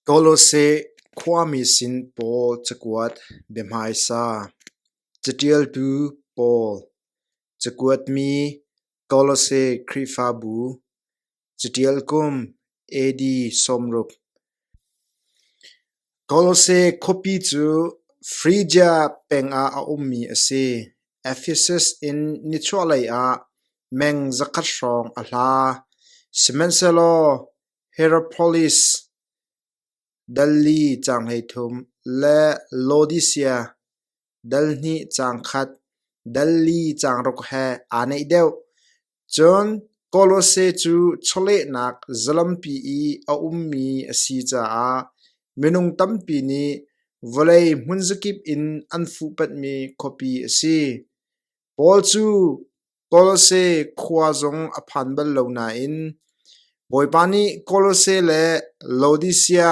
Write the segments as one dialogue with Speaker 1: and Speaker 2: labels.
Speaker 1: Kawlawseh khuami sin paw cakuat biahmaisa, caṭialtu pawl, cakuatmi Kawlawseh Khrihfabu, caṭial kum AD sawmruk. Kawlawseh khuapi cu Phrygia pengah a ummi a si. Ephesus in nichuahlei ah meng zakhat hrawng a hla, sihmanhsehlaw Hierapolis, Delhi caang hleithum le Laodicea, Delhnih caang khat, Delhi caang ruk he aa neih deuh. Cun Colossae cu chawlehnak zalampi i a ummi a si caah minung tampi nih vawlei hmunzakip in an fuhpatmi khuapi a si. Paul cu Kolose khua zong a phan bal lo nain Bawipa nih Kolose le Laodisia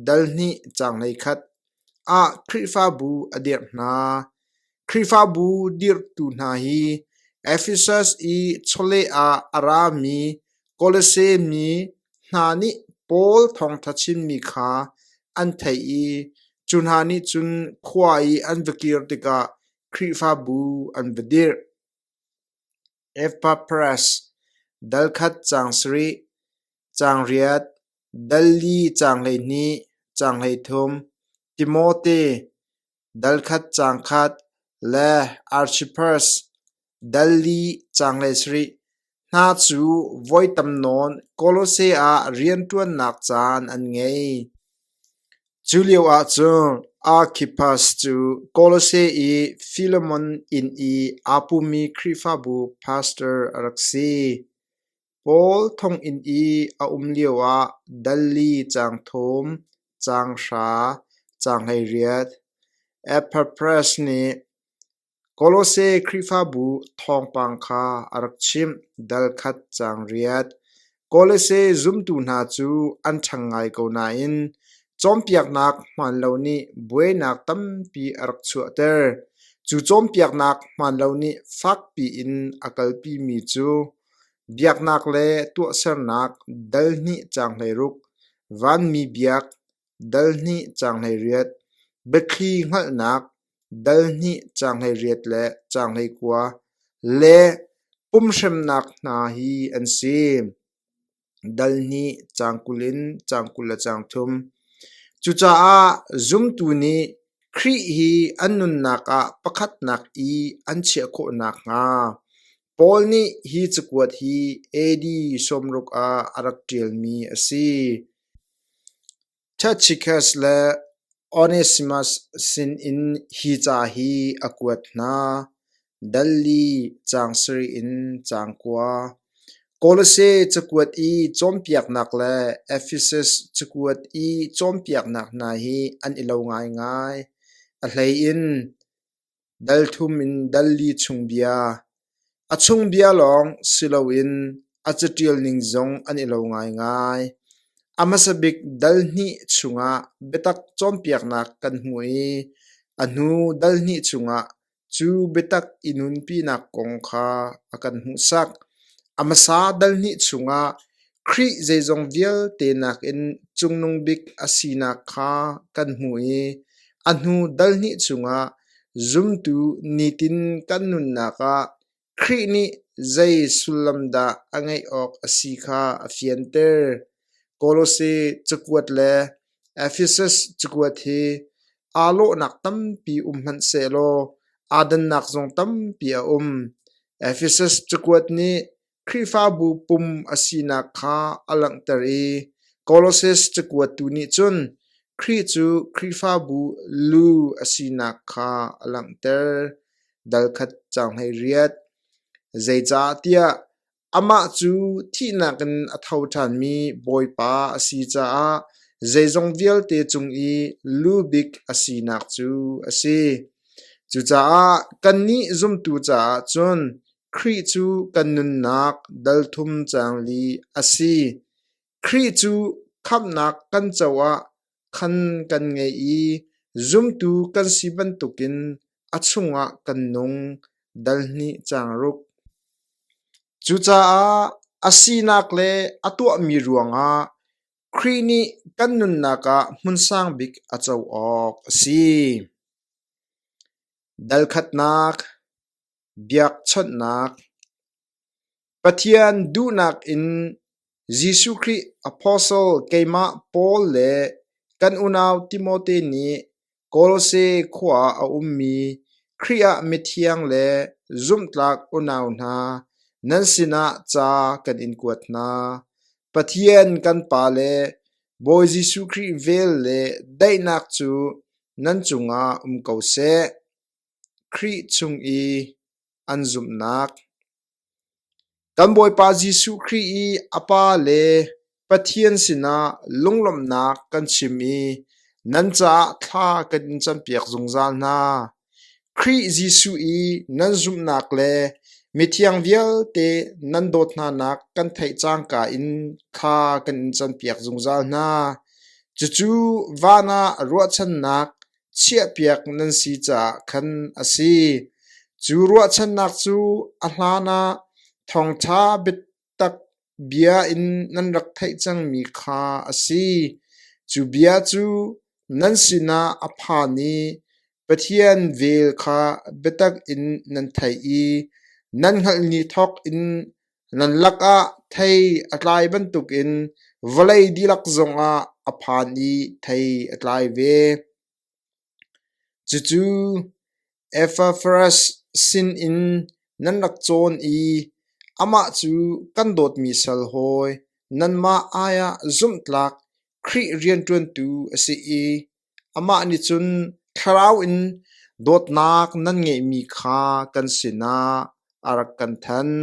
Speaker 1: dalhnih changlei khat ah Khrihfabu a dirh hna. Khrihfabu dirhtu hna hi Efesus i chawleh ah a rami Kolose mi hna nih Paul thawngṭha chimmi kha an theih i cu hna nih cun khua i an va kir tikah Khrihfabu an va dirh. Epapras dal khat caang sarih, caang riat, dal li caang hleihnih, caang hleithum, Timote dal khat caang khat le Archippus dal li caang hleisarih, Hna cu voi tam nawn Kolose ah rianṭuannak caan an ngei. Cu lioah cun Arkhippas cu Kolose i Filemon inn i aa pumi Khrihfabu pastor a rak si. Paul thonginn i a um lioah Dalli caang thum, caang hra, caang hleiriat, Epaphras nih Kolose Khrihfabu thawngpang kha a rak chimh, dal khat caang riat. Kolose zumtu hna cu an ṭhang ngai ko nain cawnpiaknak hmaanlo nih buainak tampi a rak chuahter. Cu cawnpiaknak hmaanlo nih fakpi in a kalpimi cu biaknak le tuahsernak dal hnih caang hleiruk, vanmi biak, dal hnih caang hleiriat, biathli hngalhnak, dal hnih caanghlei riat le caanghlei kua le pumhremnak hna hi an si. Dal hnih caang kul in caang kul le caang thum. Cucaah zumtu nih Khrih hi an nunnak ah pakhatnak i an chiah khawh nakhnga Paul nih hi cakuat hi AD sawmruk ah a rak ṭialmi a si. Tacitus le Onesimus sinin hi ca hi a kuat hna: Dalli caang sarih in caang kua, Kolose cakuat i cawnpiaknak le Ephesus cakuat i cawnpiaknak hna hi an i lo ngaingai. A hleiin Dal thum in dal li chung bia, a chung bia lawng si loin a caṭial ning zong an i lo ngaingai. A hmasa bik dal hnih chungah biatak cawnpiaknak kan hmu i a hnu dal hnih chungah cu biatak i nunpinak kong kha a kan hmuhsak. A hmasa dal hnih chungah Khrih zeizong vialte nakin Cungnung Bik a sinak kha kan hmuh i a hnu dal hnih chungah zumtu nitin kan nunnak ah Khrih nih zei sullam dah a ngeih awk a si kha a fianter. Kolose cakuat le Efesus cakuat hi aa lawhnak tampi um hmanh sehlaw aa dannak zong tampi a um. Efesus cakuat nih Khrihfabu pum a sinak kha a langhter i Koloses cakuatu nih cun Khrih cu Khrihfabu lu a sinak kha a langhter. Dalkhat caang hleiriat. Zeicah tiah amah cu thihnak in a tho ṭhanmi Bawipa a si caah zeizong vialte cung i lu bik a sinak cu a si. Cucaah kannih zumtu caah cun Khrih cu kan nunnak dalthum cang li a si. Khrih cu khamhnak kan co ah khan kan ngei i zumtu kan si bantukin a chungah kan nung dal hnih cang ruk. Cucaah a sinak le a tuahmi ruangah Khrih nih kan nunnak ah hmunsang bik a co awk a si. Dalkhatnak Biakchawnhnak Pathian duhnak in Jesuh Khrih apostle keimah Paul le kan unau Timote nih Kolose khua ah a ummi Khrih ah mithiang le zumhtlak unau hna nan sinah ca kan in kuat hna. Pathian kan Pa le Bawi Jesuh Khrih vel le daihnak cu nan cungah um ko seh. Khrih cung i an zumhnak. Kan Bawipa Jesuh Khrih i a Pa le Pathian sinah lunglawmhnak kan chim i nan caah thla kan in campiak zungzal hna. Khrih Jesuh i nan zumhnak le mithiang vialte nan dawt hnanak kan theih cangka in thla kan in campiak zungzal hna. Cucu van ah ruahchannak chiahpiak nan si caah khan a si. Cu ruahchannak cu a hlan ah thawngṭha biatak bia in nan rak theih cangmi kha a si. Cu bia cu nan sinah a phan i Pathian vel kha biatak in nan theih i nan hngalh ni thawk in Nan lakah thei a tlai bantukin vawlei dihlak zongah a phan i thei a tlai ve. Cucu Ephafras sinin nan rak cawn i amah cu kan dawtmi sal hawi, nanmah aiah zumhtlak Khrih rianṭuantu a si i Amah nih cun thlarau in dawtnak nan ngeihmi kha kan sinah a rak kan thanh.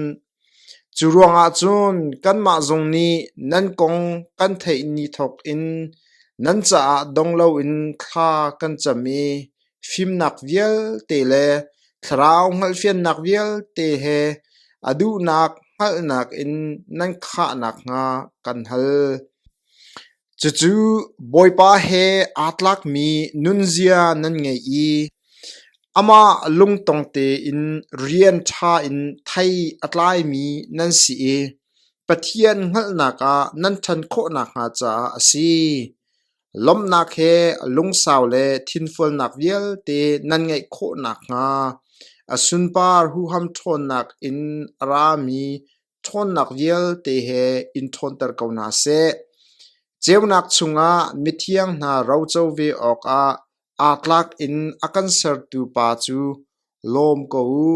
Speaker 1: Cu ruangah cun kanmah zong nih nan kong kan theih ni thawkin nan caah dong loin thla kan cam i fimnak vialte le thlarau hngalhfiannak vialte he a duhnak hngalhnak in nan khah nakhnga kan hal. Cucu Bawipa he aa tlakmi nunzia nan ngei i amah lungtong tein rian ṭha in thei a tlaimi nan si i Pathian hngalhnak ah nan ṭhan khawh nakhnga caah a si. Lawmhnak he lungsau le thinfualnak vialte nan ngeih khawh nakhnga a sunpar huham ṭhawnnak in a rami ṭhawnnak vialte he in ṭhawnter ko hna seh. Ceunak chungah mithiang hna roco ve awkah aa tlak in a kan sertu pa cu lawm ko u.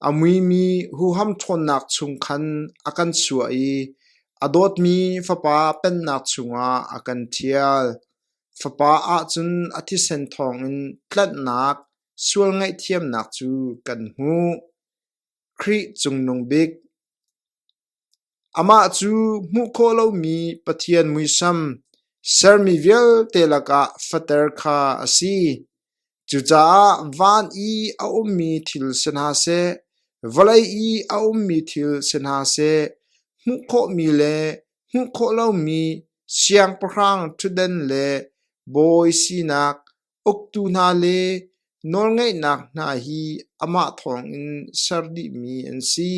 Speaker 1: A muimi huham ṭhawnnak chung khan a kan chuah i a dawtmi Fapa Pennak chungah a kan ṭhial. Fapa ahcun a thisen thawngin tlanhnak sual ngaihthiamnak cu kan hmuh. Khrih Cungnung Bik Amah cu hmuh khawh lomi Pathian muisam sermi vialte lakah fater kha a si. Cucaah van i a ummi thil si hna seh, vawlei i a ummi thil si hna seh, hmuh khawhmi le hmuh khawh lomi siangpahrang ṭhutden le bawi sinak Uktu hna le nawlngeihnak hna hi amah thawngin ser dihmi an si.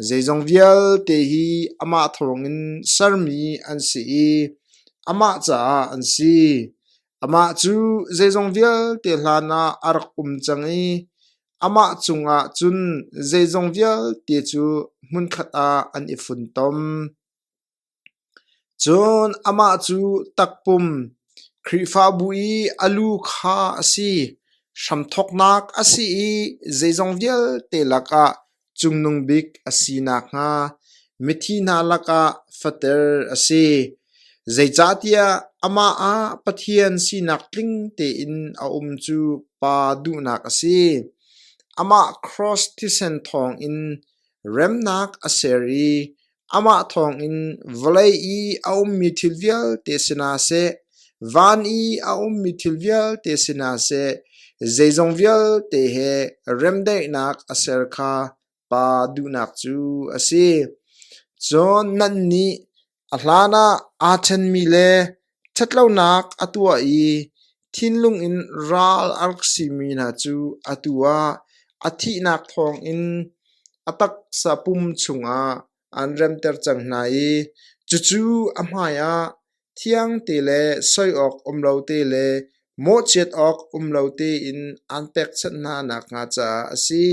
Speaker 1: Zeizong vialte hi amah thawngin sermi an si i amah caah an si. Amah cu zeizong vialte hlanah a rak um cang i amah cungah cun zeizong vialte cu hmunkhat ah an i funtom. Cun amah cu takpum, Khrihfabu i a lu kha a si, hramthawknak a si i zeizong vialte lakah Cungnung Bik a si nakhnga mithi hna lakah fater a si, zeicahtiah amah ah Pathian sinak tling tein a um cu Pa duhnak a si. Amah kraws thisen thawngin remnak a ser i Amah thawngin vawlei i a ummi thil vialte sinah seh, van i a ummi thil vialte sinah seh, zeizong vialte he remdaihnak a ser kha pa duhnak cu a si. Cun nannih a hlanah aa ṭhenmi le Ṭhatlonak a tuah i thinlung in ral a rak simi hna cu atu ah a thihnak thawngin a taksa pum chungah an remter cang hna i cucu a hmaiah thiangte le soi awk um lo te le mawhchiat awk um lo tein aan pekchanh hna nakhnga caah a si.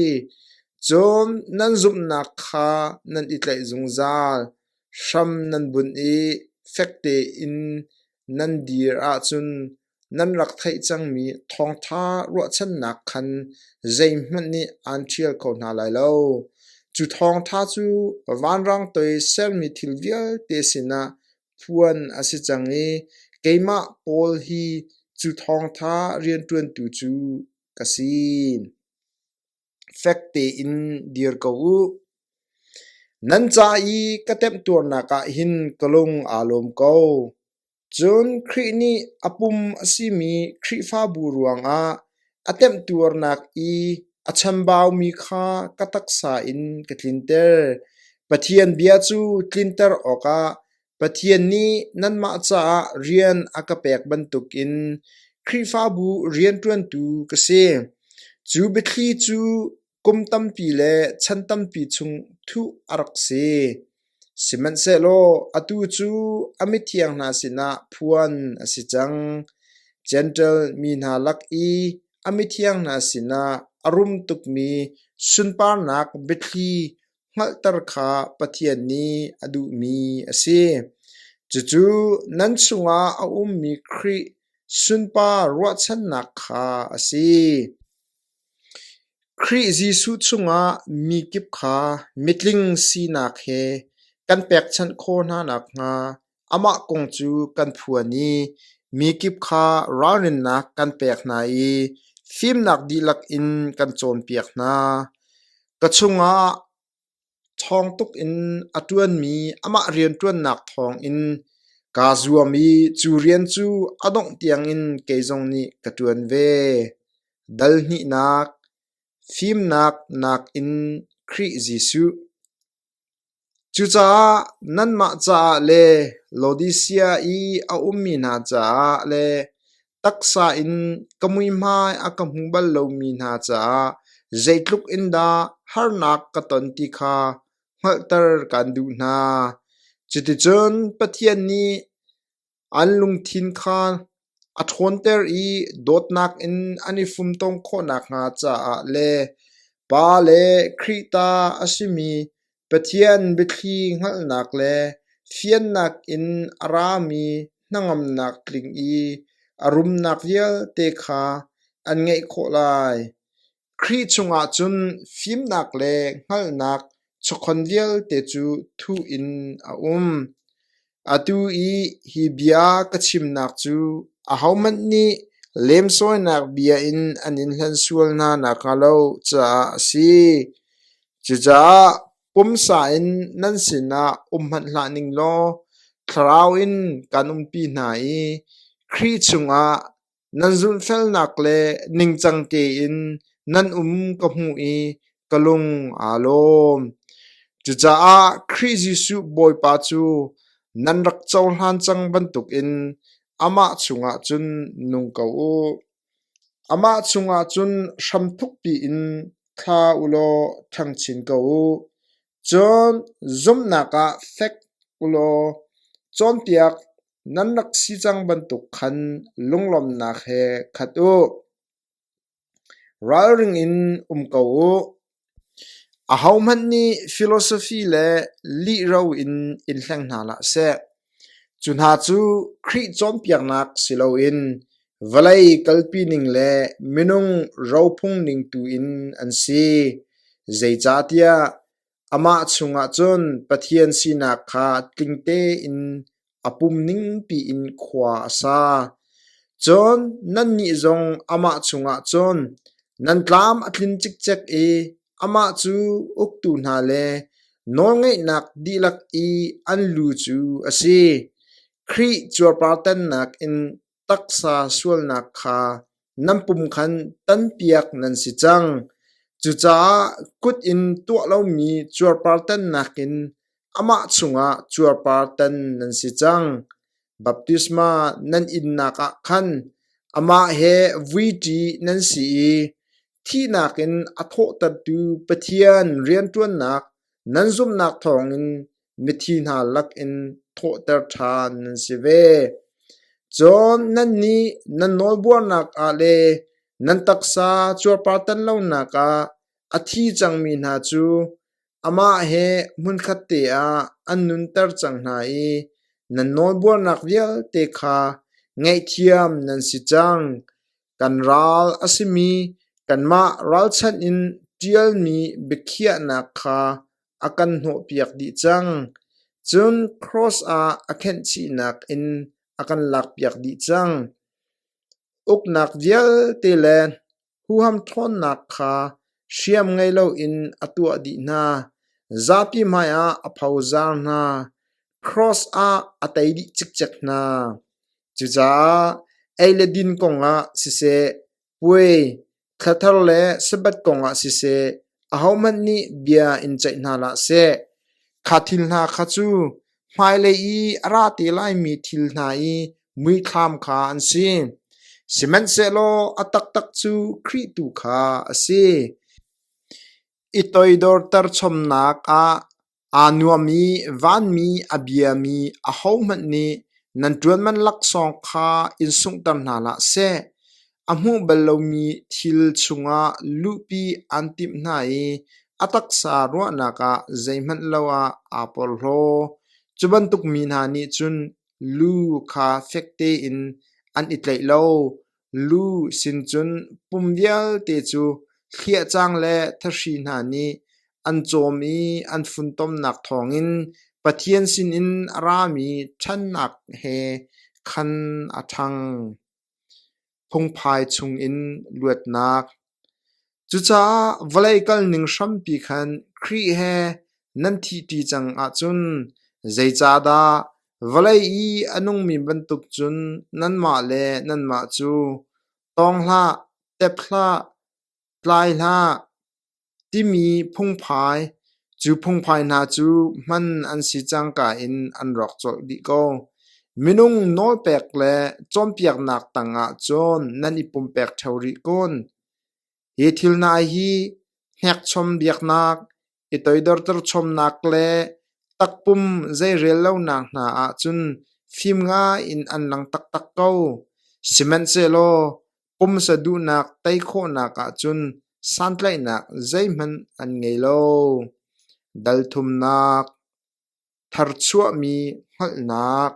Speaker 1: Cun nan zumhnak kha nan i tlaih zungzal. Hram nan bunh i fek tein nan dir ahcun nan rak theih cangmi thawngṭha ruahchannak khan zeihmanh nih aan ṭhial kho hna lai lo. Cu thawngṭha cu vanrang toi sermi thil vialte sinah phuan a si cang i keimah Paul hi cu thawngṭha rianṭuantu cu ka si. fek tein dir ko u. Nan ca i ka temhtuarnak ah hin ka lung aa lawm ko. Cun Khrih nih a pum a simi Khrihfabu ruangah a temhtuarnak i a chambaumi kha ka taksa in ka tlinter. Pathian bia cu tlinter awkah Pathian nih nanmah caah rian a ka pek bantukin Khrihfabu rianṭuantu ka si. Cu biathli cu kum tampi le chan tampi chung thuh a rak si. Sihmanhsehlaw atu cu a mithiang hna sinah phuan a si cang. Jentail mi hna lak i a mithiang hna sinah a rum tukmi sunparnak biathli hngalhter kha Pathian nih a duhmi a si. Cucu nan chungah a ummi Khrih sunpa ruahchannak kha a si. Khrih Jesuh chungah mi kip kha mitling sinak he kan pekchanh khawh hna nakhnga Amah kong cu kan phuan i mi kip kha ralrinnak kan pek hna i fimnak dihlak in kan cawnpiak hna. Ka chungah ṭhawng tuk in a ṭuanmi amah rianṭuannak thawngin kaa zuam i cu rian cu a dongh tiangin kei zong nih ka ṭuan ve. Dal hnihnak, fimnak nakin Khrih Jesuh. Cucaah nanmah caah le Laodisia i a ummi hna caah le taksa in ka muihmai a ka hmu bal lomi hna caah zeitluk in dah harnak ka ton ti kha hngalhter kan duh hna. Cuticun Pathian nih An lungthin kha a ṭhawnter i dawtnak in an i fumtom khawh nakhnga caah le Pa le Khrih ta a simi Pathian biathli hngalhnak le fiannak in a rami hnangamnak tling i a rumnak vialte kha an ngeih khawh lai. Khrih chungah cun fimnak le hngalhnak chawkhon vialte cu thuh in a um. Atu i hi bia ka chimnak cu ahohmanh nih lemsawinak bia in an in hlen sual hna nakhnga lo caah a si. Cucaah pumsa in nan sinah um hmanh hlah ning law thlarau in kan umpi hna i Khrih chungah Nan zumhfelnak le ningcang tein nan um ka hmuh i ka lung aa lawm. Cucaah Khrih Jesuh Bawipa cu nan rak cohlan cang bantukin amah chungah cun nung ko u. Amah chungah cun hramthukpi in thla u law ṭhangchin ko u. Cun zumhnak ah fek u law cawnpiak Nan rak si cang bantuk khan lunglawmhnak he khat u. Ralring in um ko u. Ahohmanh nih philosophy le lihro in in hleng hna hlah seh. Cu hna cu Khrih cawnpiaknak si loin vawlei kalpi ning le minung rophung ning tu in an si. Zeicahtiah Amah chungah cun Pathian sinak kha tling tein a pum ningpi in khua a sa. Cun nannih zong amah chungah cun nan tlam a tlin cikcek i amah cu uktu hna le nawlngeihnak dihlak i an lu cu a si. Khrih cuarpartannak in taksa sualnak kha nan pum khan tanpiak nan si cang. Cucaah kut in tuah lomi cuarpar tannak in amah chungah cuarpar tan nan si cang. Baptisma nan innak ah khan amah he vuiṭi nan si i thihnak in a thawhtertu Pathian rianṭuannak nan zumhnak thawngin mithi hna lakin thawhter ṭhan nan si ve. Cun nannih nan nawlbuarnak ah le nan taksa cuarpartan lonak ah a thi cangmi hna cu amah he hmunkhat te ah an nunter cang hna i nan nawlbuarnak vialte kha ngaihthiam nan si cang. Kan ral a simi kanmah ralchanh in ṭialmi biakhiahnak kha a kan hnawhpiak dih cang, cun cross ah a khenhchihnak in a kan lakpiak dih cang. Uknak vialte le huhamṭhawnnak kha hriam ngei loin a tuah dih hna, zapi hmaiah a phozar hna, cross ah a tei dih cikcek hna. Cucaah ei le din kongah siseh, puai, Thla thar le Sabbath kongah siseh, ahohmanh nih bia in ceih hna hlah seh, kha thil hna kha cu hmailei i a ra te laimi thil hna i muithlam kha an si. Sihmanhsehlaw a taktak cu Khrih tu kha a si. I toidorter chomnak ah Aa nuam i vanmi a biami ahohmanh nih nan ṭuanman laksawng kha in sunghter hna hlah seh. A hmuh bal lomi thil chungah luhpi aan timh hna i a taksa ruahnak ah zeihmanh lo ah aa porhlaw. Cu bantuk mi hna nih cun lu kha fek tein an i tlaih lo. Lu sin cun pum vialte cu hliahcang le thahri hna nih an cawm i an funtomnak thawngin Pathian sinin a rami ṭhannak he khan a ṭhang. Phungphai chungin luatnak Cucaah vawlei kal ning hrampi khan Khrih he nan thihṭi cang ahcun zeicahdah vawlei i a nungmi bantuk cun nanmah le nanmah cu tawng hlah, tep hlah, tlai hlah timi phungphai Cu phungphai hna cu hman an si cangka in an rawk colh dih ko. Minung nawlpek le cawnpiaknak tangah cun nan i pumpek ṭheo rih kun. Hi thil hna hi hnekchom biaknak, i toidorter chomnak le takpum zeirel lonak hna ahcun fim ngai in an lang taktak ko. Sihmanhsehlaw Pumsa duhnak tei khawhnak ahcun santlaihnak zeihmanh an ngei lo. Dalthumnak, tharchuahmi hngalhnak.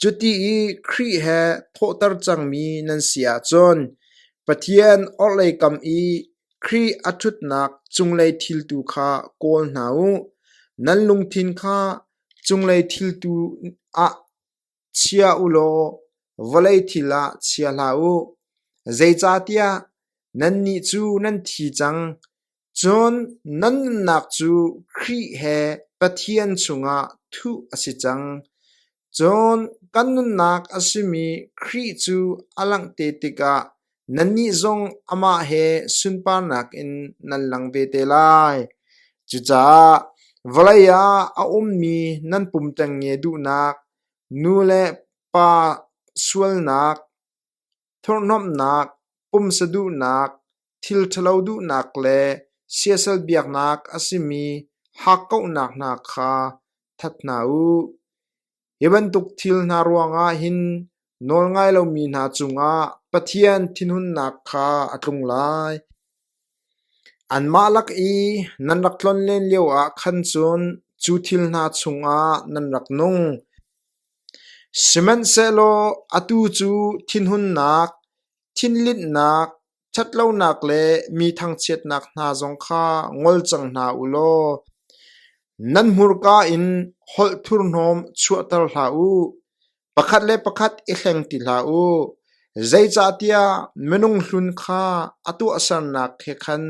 Speaker 1: Cuti i Khrih he thawhter cangmi nan si ahcun Pathian orhlei kam i Khrih a ṭhutnak cunglei thil tu kha kawl hna u. Nan lungthin kha cunglei thil tu ah Chia u law vawlei thil ah chia hlah u; zeicahtiah nannih cu nan thi cang, cun nan nunnak cu Khrih he Pathian chungah thuh a si cang. Cun kan nunnak a simi Khrih cu a langh te tikah Nannih zong amah he sunparnak in nan lang ve te lai. Cucaah vawlei ah a ummi nan pum ṭengnge duhnak, nu le pa sualnak, thurhnomhnak, pumsa duhnak, thil ṭhalo duhnak le siasal biaknak a simi hakkauhnak hna kha that hna u. Hi bantuk thil hna ruangah hin nawlngai lomi hna cungah Pathian thinhunnak kha a tlung lai. Anmah lak i nan rak tlon len lioah khan cun cu thil hna chungah nan rak nung. Sihmanhsehlaw atu cu thinhunnak, thinlinhnak, Ṭhatlonak le mi thangchiatnak hna zong kha ngol cang hna u law nan hmurka in holh thurhnawm chuahter hlah u. Pakhat le pakhat i hleng ti hlah u, zeicahtiah minung hlun kha a tuahsernak he khan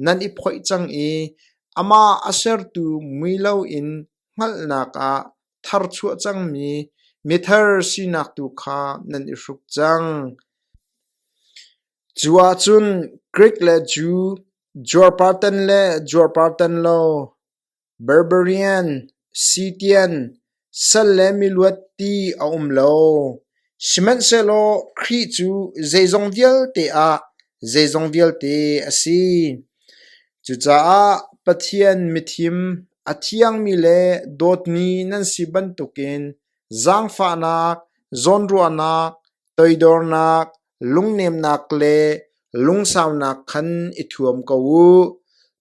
Speaker 1: nan i phoih cang i amah a sertu mui loin hngalhnak ah thar chuah cangmi methar sinak tu kha nan i hruk cang. Cu ahcun Greek le Jew, Juarpartan le Juarpartan lo, Barbarian, Scythian, sal le miluat ti a um lo. Sihmanhsehlaw Khrih cu zeizong vialte ah zeizong vialte a si. Cucaah Pathian mithim A thiangmi le dawtmi nan si bantukin zaangfahnak, zawnruahnak, toidornak, lungnemnak le lungsaunak khan i thuam ko u.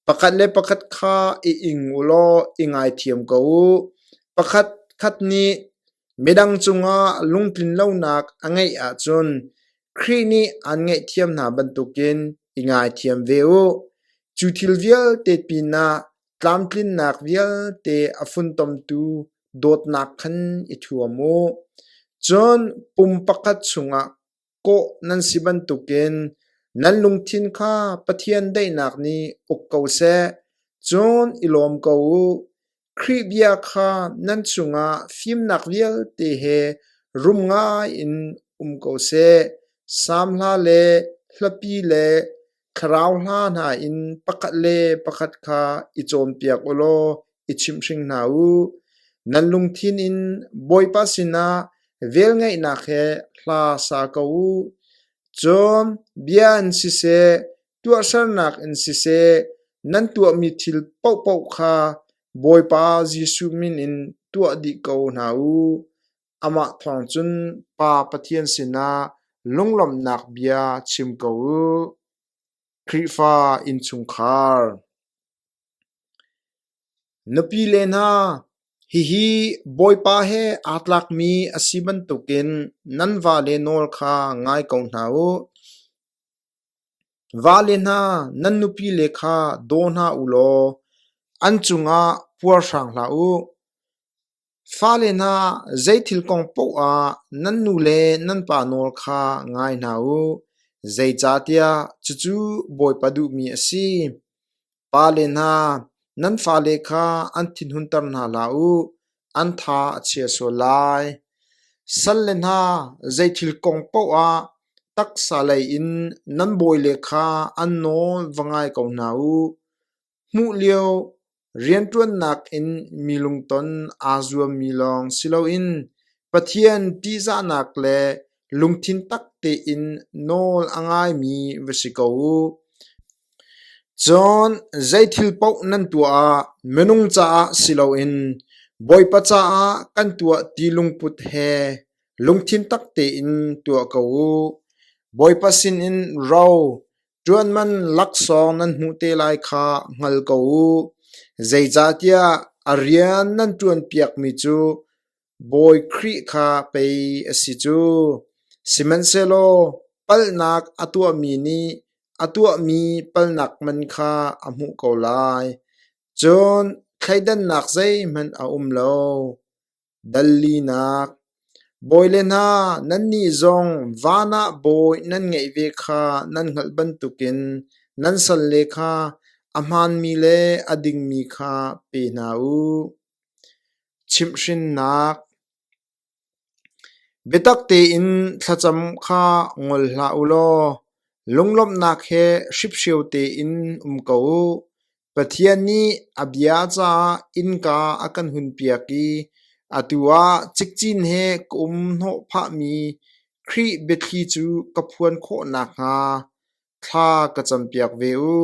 Speaker 1: Pakhat le pakhat kha i ing u law i ngaithiam ko u. Pakhat khat nih midang cungah lungtlinlonak a ngeih ahcun Khrih nih aan ngaihthiam hna bantukin i ngaithiam ve u. Cu thil vialte pinah tlamtlinnak vialte a funtomtu dawtnak khan i thuam u. Cun pum pakhat chungah kawh nan si bantukin nan lungthin kha Pathian daihnak nih uk ko seh. Cun i lawm ko u. Khrih bia kha nan cungah fimnak vialte he rum ngaiin um ko seh. Sam hla le hlapi le Thlarau hla hna in pakhat le pakhat kha i cawnpiak u law i chimhring hna u. Nan lungthin in Bawipa sinah velngeihnak he hla sa ko u. Cun bia in siseh, tuahsernak in siseh, nan tuahmi thil paohpaoh kha Bawipa Jesuh min in tuah dih ko hna u. Amah thawng cun Pa Pathian sinah lunglawmhnak bia chim ko u. Khrihfa innchungkhar Nupi le hna, hihi Bawipa he aa tlakmi a si bantukin nan vale nawl kha ngai ko hna u. Vale hna, nan nupile kha daw hna u law an cungah puar hrang hlah u. Fale hna zeithil kong paoh ah nan nu le nan pa nawl kha ngai hna u, zeicahtiah cucu Bawipa duhmi a si. Pale hna, nan fale kha an thinhunter hna hlah u, an tha a chia sual lai. Salle hna, zeithil kong paoh ah taksa lei in nan bawile kha an nawl va ngai ko hna u. Hmuh lio rianṭuannak in mi lungton aa zuammi lawng si loin Pathian ṭihzahnak le lungthin tak tein nawl a ngaimi va si ko u. Cun zeithil paoh nan tuah ah minung caah si loin Bawipa caah kan tuah ti lungput he lungthin tak tein tuah ko u. Bawipa sinin ro, Ṭuanman laksawng nan hmuh te lai kha hngal ko u; zeicahtiah a rian nan ṭuanpiakmi cu Bawi Khrih kha pei a si cu. Sihmanhsehlaw palhnak a tuahmi nih a tuahmi palhnak man kha a hmuh ko lai, cun thleidannak zeihmanh a um lo. Dal linak: Bawi le hna, nannih zong van ah bawi nan ngeih ve kha nan hngalh bantukin nan salle kha a hmaanmi le a dingmi kha pe hna u. Chimhhrinnak: Biatak tein thlacam kha ngol hlah u law lunglawmhnak he hriphrio tein um ko u. Pathian nih a bia caah innka a kan hunpiak i atu ah cikcin he ka um hnawhphahmi Khrih biathli cu ka phuan khawh nakhnga thla ka campiak ve u.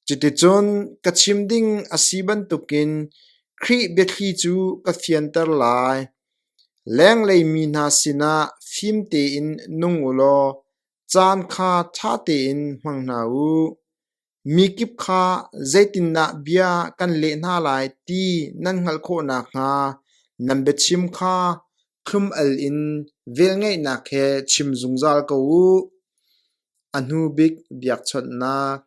Speaker 1: Cuticun ka chim ding a si bantukin Khrih biathli cu ka fianter lai. Lenglei mi hna sinah fim tein nung u law caan kha ṭha tein hmang hna u. Mikip kha zeitindah bia kan leh hna lai ti nan hngalh khawh nakhnga nan biachim kha thlum-al in velngeihnak he chim zungzal ko u. A hnubik biakchawnhnak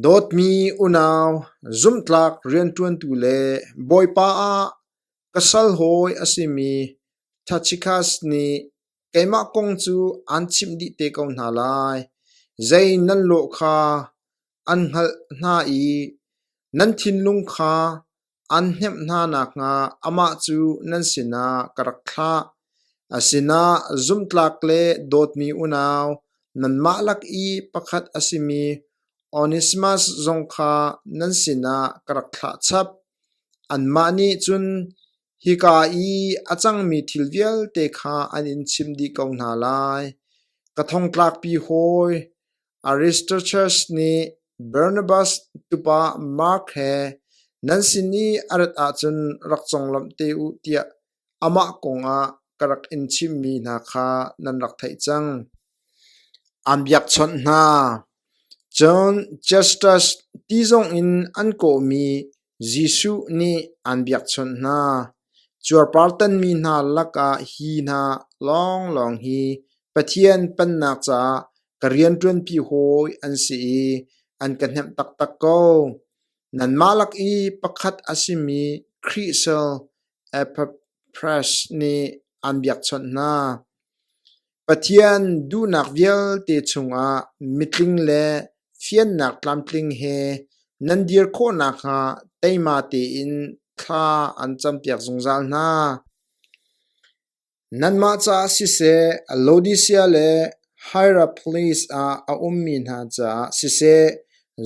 Speaker 1: Dawtmi unau, zumhtlak rianṭuantu le Bawipa ah ka sal hawi a simi Tachikas nih Keimah kong cu aan chimh dih te ko hna lai. Zei nan lawh kha an hngalh hna i nan thinlung kha an hnemh hna nakhnga amah cu nan sinah ka rak thlah. A sinah zumtlak le dawtmi unau, nanmah lak i pakhat a simi Onesimas zong kha nan sinah ka rak thlah chap. Anmah nih cun, Hika i a cangmi thil vialte kha an in chim dih ko hna lai. Ka thongtlakpi hawi Aristarchus nih Barnabas tupa Mark he nan sin i a rat ahcun rak conglawmh te u tiah amah kongah ka rak in chimmi hna kha nan rak theih cang. An biakchawnh hna. Cun Justus ti zongin an kawhmi Jesuh nih aan biakchawnh hna, cuarpartanmi hna lakah hi hna lawnglawng hi Pathian pannak caah ka rianṭuanpi hawi an si i an ka hnemh taktak ko. Nanmah lak i pakhat a simi Khrih sal Epaphras nih aan biakchawnh hna. Pathian duhnak vialte chungah mitling le fiannak tlamtling he nan dir khawh nakhnga teima tein thla an campiak zungzal hna. Nanmah caah siseh, Laodisia le Hieraples ah a ummi hna caah siseh,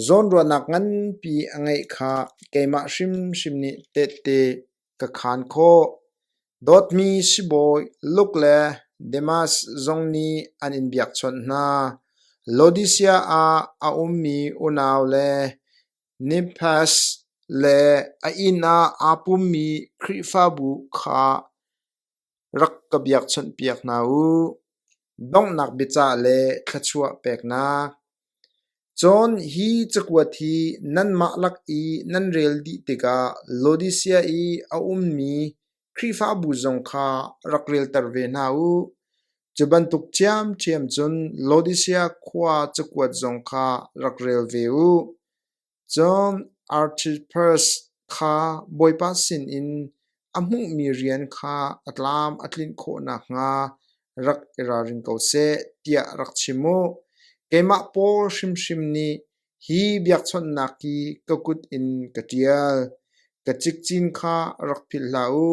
Speaker 1: zawnruahnak nganpi a ngeih kha keimah hrimhrim nih tehte ka khaan khawh. Dawtmi sibawi Luke le Demas zong nih an in biakchawnh hna. Laodisia ah a ummi unau le Nimfas le a inn ah aa pummi Khrihfabu kha rak ka biakchawnhpiak hna u. Donghnak biaca le thluachuah peknak. Cun hi cakuat hi nanmah lak i nan rel dih tikah Laodisia i a ummi Khrihfabu zong kha rak relter ve hna u. Cu bantuk ṭhiamṭhiam cun Laodisia khua cakuat zong kha rak rel ve u. Cun Artipharas kha Bawipa sinin a hmuhmi rian kha a tlam a tlinh khawh nakhnga rak i ralring ko seh tiah rak chim u. Keimah Paul hrimhrim nih hi biakchawnhnak hi ka kut in ka ṭial. Ka cikcin kha rak philh hlah u,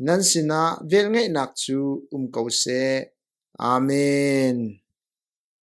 Speaker 1: nan sinah velngeihnak cu um ko seh. Amen.